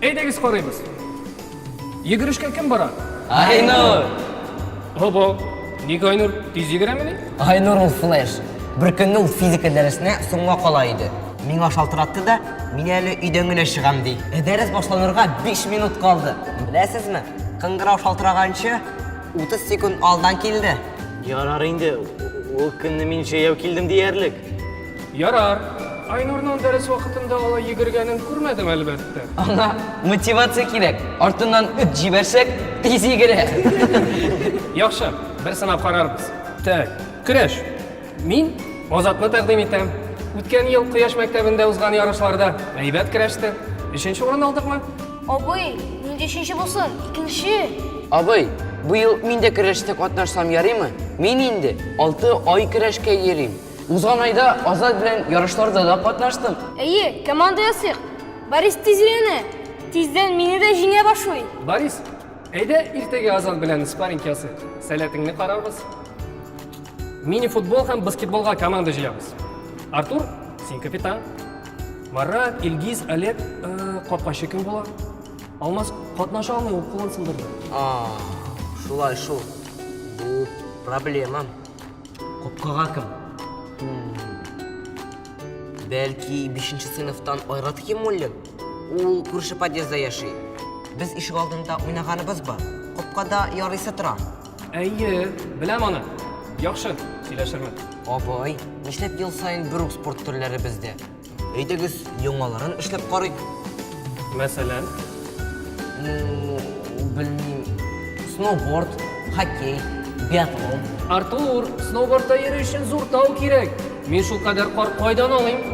Әйдәгез карыйбыз. Йөгерешкә кем бара? Айнур! Һобо, ник Айнур тиз йөгерәмени? Айнур ул флеш. Бер көнне ул физика дәресенә соңга кала иде. Миңа шалтыратты да, мин әле өйдән генә чыгам, ди. Ә дәрес башланырга биш минут калды. Беләсезме, кыңгырау шалтыраганчы, утыз секунд алдан килде. Ярар инде, ул көнне мин җәяү килдем диярлек. Ярар. Айнурның дәрес вакытында алай йөгергәнен күрмәдем, әлбәттә. Аңа мотивация кирәк. Артыннан эт җибәрсәк, тиз йөгерә. Яхшы, бер сынап карарбыз. Так, көрәш. Мин Азатны тәкъдим итәм. Үткән ел Кояш мәктәбендә узган ярышларда әйбәт көрәште. Өченче урын алдыкмы? Абый, нинди өченче булсын? Икенче! Абый, бу ел мин дә көрәштә катнашсам ярыймы? Мин инде алты ай көрәшкә йөрим. Узган айда Азат белән ярышларда да катнаштым. Әйе, команда ясыйк. Борис тиз өйрәнә. Тиздән мине дә җиңә башлый. Борис, әйдә иртәгә Азат белән спарринг ясыйк. Сәләтеңне карарбыз. Мини-футбол һәм баскетболга команда җыябыз. Артур, син капитан. Марат, Илгиз, Олег, э, капкачы кем була? Алмаз катнаша алмый, ул кулын сындырды. А, шулай шул. Бу проблемам. Капкага кем? Бәлки, бишенче сыйныфтан Айрат Химуллин? Ул күрше подъездда яши. Без ишек алдында уйнаганыбыз бар. Капкада ярыйсы тора. Әйе, беләм аны. Яхшы, сөйләшермен. Абый, нишләп ел саен бер үк спорт төрләре бездә? Әйдәгез, яңаларын эшләп карыйк. Мәсәлән? Ну, белмим. Сноуборд, хоккей, биатлон. Артур, сноубордта йөрү өчен зур тау кирәк. Мин шулкадәр кар кайдан алыйм?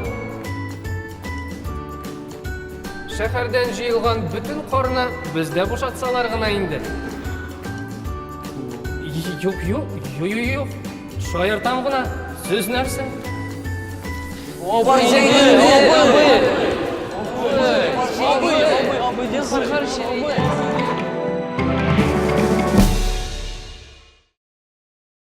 Шәһәрдән җыелган бөтен карны бездә бушатсалар гына инде. Юк, юк, юк, юк, юк. Шаяртам гына. Сүз нәрсә? Абый, абый, абый, абый, абый, дин саргар шерей.